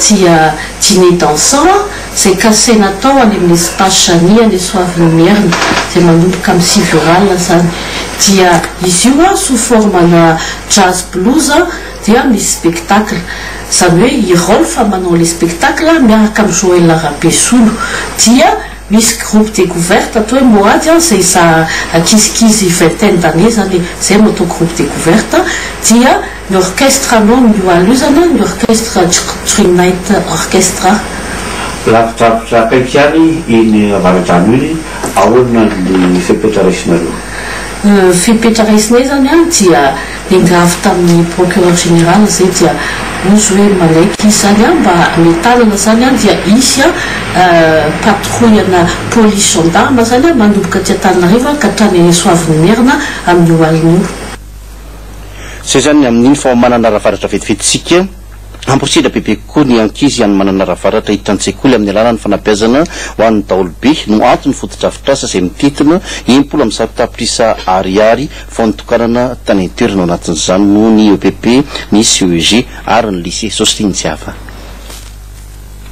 dia dîner dansant izay kasaina atao any amin'ny Espace Jani any Soavinimierina izay manomboka amin'ny sivy ora alina izany. Dia izy io sous forme-na jazz blues dia misy spectacle. Izany hoe i Rolf manao ilay spectacle miaraka amin'i Joël Rabesolo. Dia misy groupe découverte atao hoe Mohady izay za ankizikizy vingtaine d'années izany izay no atao groupe découverte dia. Ny orkestra aloha no ihalozana, ny orkestra Jqtri Night Orchestra. Lavidravitrà akaiky ihany iny avaradrano iny, ahoana ny fepetra raisinareo? Ny fepetra raisinay izany dia engavy tamin'ny procureur général izay dia ozy hoe manaiky izy izany mba hametanana izany dia hisy patrouille ana police gendarme izany manomboka aty Antananarivo ka hatrany Soavin'ny Merina amin'io alina io. Izay izany amin'iny fa ao Mananaravaratra vetivetintsika, amporisihitra bebe kokoa ny ankizy any Mananaravaratra hiditra an-tsekoly amin'ny alalan'ny fanabeazana ho an'ny daholobe no anton'ny fotodrafitrasa izay mitentina impolo amby zato tapitrisa Ariary vao nitokanana tany an-toerana ao anatin'izany no ny epp, ny CEG ary ny Lycée Sositry Njiava.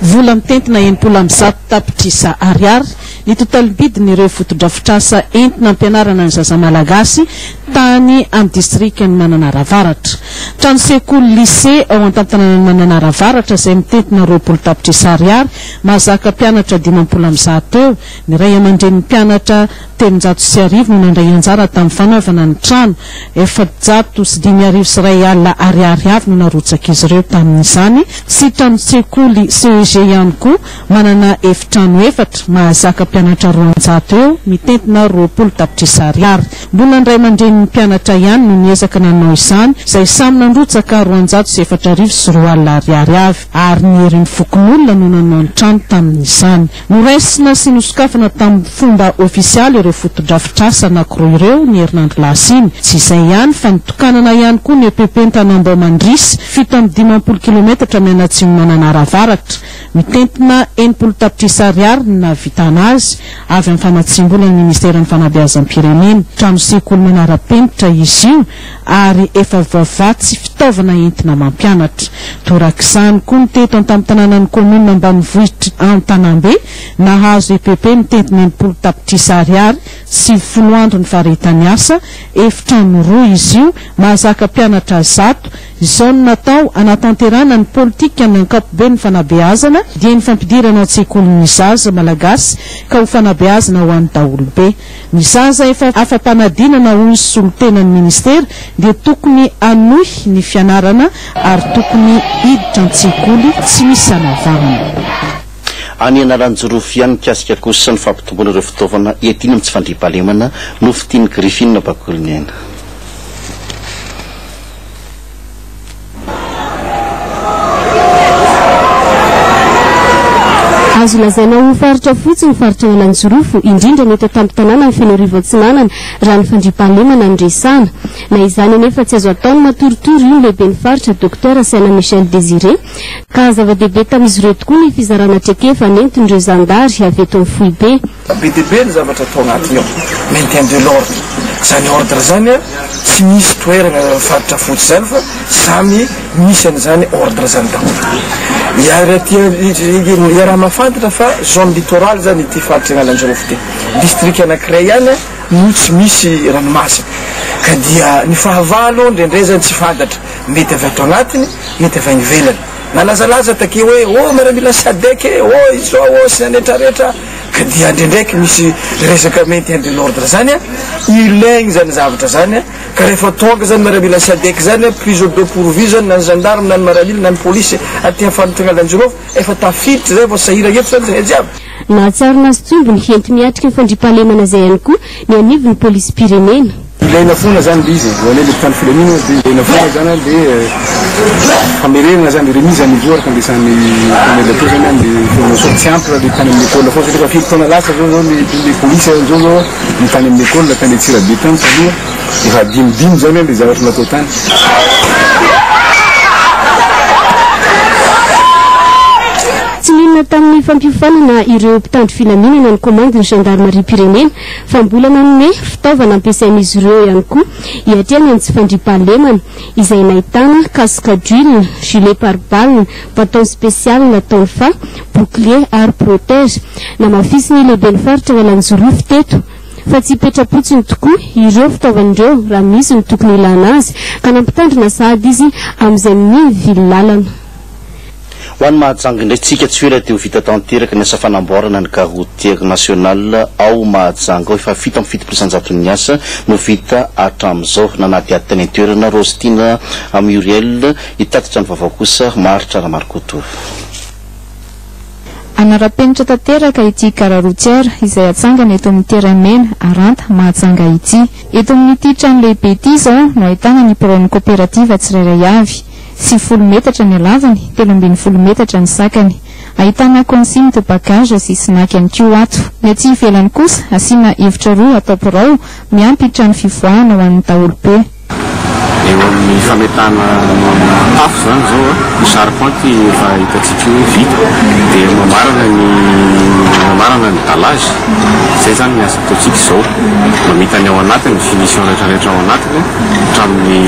Vola mitentina enimpolo amby zato tapitrisa ariary ny totalibidin'ireo fotodrafitrasa entina ampianarana ny zaza malagasy tany amin'ny distrikan'i Mananara Avaratra. Trano sekoly, lycée, ao an-tantananan'i Mananara Avaratra izay mitentina roapolo tapitrisa ariary, mahazaka mpianatra dimampolo amby zato eo, ny ray aman-drenin'ny mpianatra, telonjato sy arivo no nandray anjara tamin'ny fanaovana ny trano, efajato sy dimy arivo sy iray alina ariary avy no narotsak'izy ireo tamin'izany, sy tranon-tsekoly CEG ihany koa, manana efitrano efatra, mahazaka mpianatra roanjato eo, mitentina roapolo tapitrisa ariary. Mbola ny ray aman-drenin'ny mpianatra ihany no niezaka nanao izany, izay samy nandrotsaka roanjato sy efatra arivo sy roa alina ariary avy, ary ny herin'ny fokonolona no nanao ny trano tamin'izany. Noraisina sy nosokafana tamin'ny fomba ofisialy ireo fotodrafitrasa anankiroa ireo ny herinandro lasa iny. Tsy izay ihany fa nitokanana ihany koa ny EPP Antanambao Mandrisy, fito amby dimampolo kilometatra mianatsimo mananara-varatra. Mitentina enimpolo tapitrisa ariary ny nahavitana azy, avy amin'ny famatsiam-bolan'ny Ministeran'ny Fanabeazam-pirenena. Trano sekoly manara-penitra izy io. ary efa vava tsy fitaovana entina mampianatra. Torak'izany koa ny teto antampon-tanànan'ny kaominina ambanivohitra Antanambe, nahazo EPP mitentina enimpolo tapitrisa ariary sy folo andro ny faharetan'ny asa, efitrano roa izy io, mahazaka mpianatra zato. Izao no natao hanatanterahana ny politikan'ny ankapoben'ny fanabeazana, dieny fampidirana an-tsekoly ny zaza malagasy ka ho fanabeazana ho an'ny daholobe. Ny zaza efa afa-panadinana hoy ny solontenan'ny minisitera dia tokony hanohy ny fianarana ary tokony hiditra an-tsekoly tsy misy anavahana. Any Analanjirofo ihany mikasika kosa ny fampitomboana ireo fitaovana iadiana amin'ny tsy fandriampahalemana no fitin'i Griffin Bakolinena. Azo lazaina ho faritra fotsy ny faritra Analanjirofo, indrindra ny eto an-tampon-tanàna ny Fenoarivo Atsinanana, raha ny fandriampahalemana no resahana. Na izany anefa, tsy azo atao ny matoritory, hoy ny lehiben'ny faritra, Dokotera Saina Michel Désiré, ka zava-dehibe tamin'izy ireo tokoa ny fizarana traikefa nentin'ireo zandary avy eto amin'ny foibe. Be dia be ny zavatra atao anatiny ao, maintien de l'ordre, izany ordre izany an, tsy misy toerana faritra fotsy izany fa samy misy an'izany ordre izany daholo. Iaraha mahafantatra fa zone littorale izany ity faritra Analanjirofo ity, district anankiray ihany an no tsy misy ranomasina, ka dia ny fahavalo indraindray izany tsy fantatra, mety avy ato anatiny, mety avy any ivelany. Nalazalaza takeo hoe oh miaramila Sadec e, oh izao oh sy ny anetraretra. Ka dia ndraindraiky misy resaka maintien de l'ordre zany a, ilaigny zany zavatra zany a, ka rehefa tonga zany miaramila sadec zany a, prise au deux pour vue zany na ny gendarme na ny miaramila na ny polisy aty am faritagna Alanjirofo, efa tafiditra zay vao sahiragna eto zany zahay jiaby. Nahatsiaro nazy tsombiny enti-miatrika ny fandriampahalemana izay ihany koa ny anivon'ny polisim-pirenena. Ilaina foana zany le izy, zany hoe le mpitandro filaminana de ilaina foana zany an le famerenana zany, remise à niveau araka ny resahan'ny colonel teo zany an le formation, tsy ampy raha le tany amin'ny ecole foana satria efa firy taona lasa zao zao le le polisy an zao zao no tany amin'ny ecole tany Antsirabe tany taloha efa hadinodino zany an le zavatra natao tany. Tsy nihinana tamin'ny fampiofanana ireo mpitandro filaminana ny komandin'ny zandarimarim-pirenena fa mbola nanome fitaovana ampiasain'izy ireo ihany koa hiatrehana ny tsy fandriampahalemana, izay nahitana casque à duil, gilet pare balle, bâton spécial, tonfa, bouclier ary protège. Namafisin'ny lehiben'ny faritra Analanjirofo teto fa tsy hipetra-potsiny tokoa ireo fitaovana ireo raha misy ny tokony hilana azy ka nampitandrina sahady izy amin'izay mivivily lalana. Ho an'i Mahajanga indray tsika tsy ho ela dia ho vita tanteraka ny asa fanamboarana ny gare routière nationale ao Mahajanga ao. Efa fito amby fitopolo isanjato ny asa no vita hatramin'izao. Nanadihady tany an-toerana Rostina Muriel hitatitra ny vaovao kosa Maharitra Ramarikoto. Hanara-penitra tanteraka ity gare routière izay hatsangana eto amin'ny terrain mena Aranta, Mahajanga ity. Eto amin'ity trano lehibe ity izao no ahitana ny biraon'ny kaoperativa tsirairay avy. sy folo metatra ny halavany, telo ambin'ny folo metatra ny sakany. Ahitana consigne de bagage sy snack ihany koa ato. Ny aty ivelany kosa asiana efitra roa atao birao, miampy trano fivoahana ho an'ny daholobe. Eo amin'ny fametahana tafo izany izao an, ny charpente efa hitantsika hoe vita, dia mamarana ny mamarana ny dallage, izay izany ny asa. Ataontsika izao, mamita ny ao anatiny, ny finition rehetra rehetra ao anatiny, hatramin'ny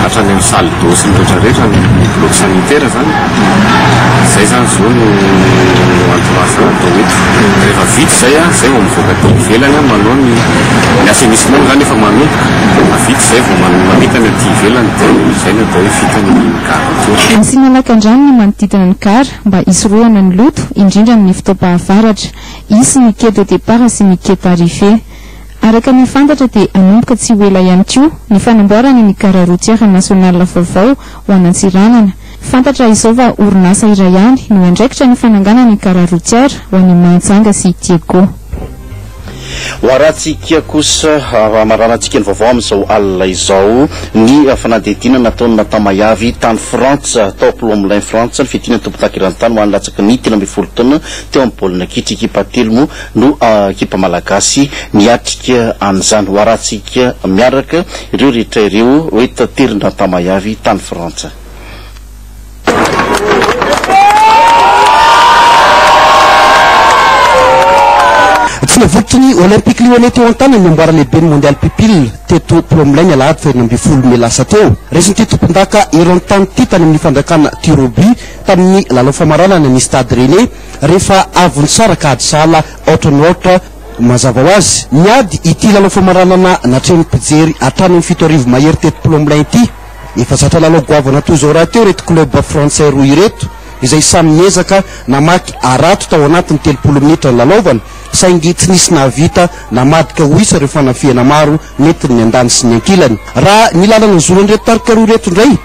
hatrany amin'ny salle d'eau sy ny rehetra rehetra, ny bloc sanitaire izany, izay izany zo no entourage atao eto. Rehefa vita izay an, izay vao mivoaka aty ivelany an, manao ny ny assainissement moa izany efa manomboka, rehefa vita izay vao man- mamita ny aty ivelany dia izay no atao hoe vita ny gara toa. Asiana lakandrano ny manodidina ny gara mba hisorohana ny loto, indrindra amin'ny fotoam-pahavaratra. Hisy ny quai de départ sy ny quai tarife. Araka ny fantatra dia hanomboka tsy ho ela ihany koa ny fanamboarana ny gare routière nationale vaovao ho an'Antsiranana. Fantatra izao fa orinasa iray ihany no hiandraikitra ny fananganana ny gare routière ho an'i Mahajanga sy Diego. Hoarahantsika kosa, hamaranantsika ny vaovao amin'izao alina izao, ny fanadihadiana nataon'i Nathan Mahiavy tany Frantsa, tao Plomelin Frantsa, ny fiadiana ny tompon-daky eran-tany ho an'ny latsaky ny telo ambin'ny folo taona, Teo amin'ny baolina kitra ekipa telo moa no ekipa malagasy miatrika an'izany. Hoharantsika miaraka ireo rehetra ireo hoe taterina an-tamay avy tany Frantsa. Tsy navotry ny Olympic Lyonnais teo an-tanany ny amboara lehiben'ny Mondial Pupille teto Plomlay ny alahady fahirina ambin'ny folo mey lasa teo. Resin'ity tompondaka eran-tany ity tany amin'ny fandrakana tir au but. tamin'ny lalao famaranana ny Stade Rennais rehefa avy nisaraka ady sahala aotra no aotra. Mazava ho azy, niady ity lalao famaranana natrehin'ny mpijery hatrany amin'ny fito arivo mahery teto Plomelin ity. Efa zatra lalao goavana toy izao rahateo ireto club frantsay roa ireto izay samy niezaka namaky harato tao anatin'ny telopolo minitra nilalaovana saingy tsy nisy nahavita namadika ho isa ireo fanafihana maro nentin'ny andany sy ny ankilany. Raha ny lalana zoran'ireto tarika roa ireto indray,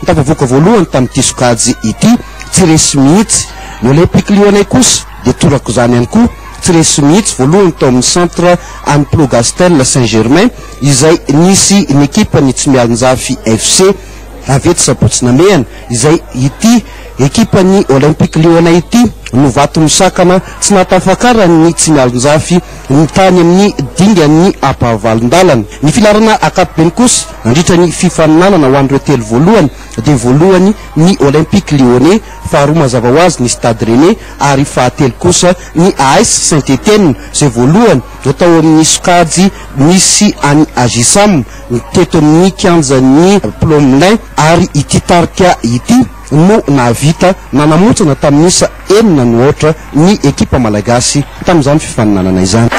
Ny tafavoaka voalohany tamin'ity sokajy ity tsy resy mihitsy. Ny Olympic-Lyonnais kosa dia toraka izany ihany koa, tsy resy mihitsy, voalohany tao amin'ny Centre Anne Plougastel Saint-Germain izay nisy ny ekipan'ny Tsimialonjafy FC avetsy sabotsy namehana izay ity ekipan'ny Olympic-Lyonnais ity no vato misakana tsy nahatafakaran'ny Tsimialonjafy ny tany amin'ny dingan'ny ampahavalon-dalana. Ny filaharana ankapobeny kosa. Nandritra ny fifaninanana ho an'ireo telo voalohany dia voalohany ny Olympique Lyonnais, faharoa mazava ho azy ny Stade Rennais ary fahatelo kosa ny AS Saint Etienne izay voalohany tao amin'ny sokajy nisy an'i Agisam teto amin'ny kianjan'ny Plomelin ary ity tarika ity no nahavita nanamontsana tamin'isa enina no aotra ny ekipa malagasy tamin'izany fifaninanana izany.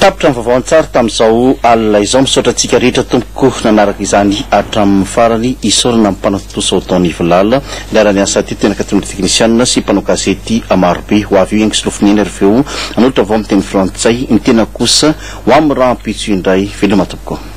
Tapitra ny vaovao an-tsary tamin'izao alina izao. Misaotra antsika rehetra tompoko nanaraka izany hatramin'ny farany. Isaorana ny mpanao tontosa ao Don Yvelal niara-ny asa teto mianaka tamin'ireo teknisianina sy mpanao gazety marobe. Ho avy eo ihany kisolofo niaina ary avy eo nanolotra vaovao amin'ny teny frantsay. Ny tenako kosa ho amin'ny rahampitso indray. Veloma tompoko.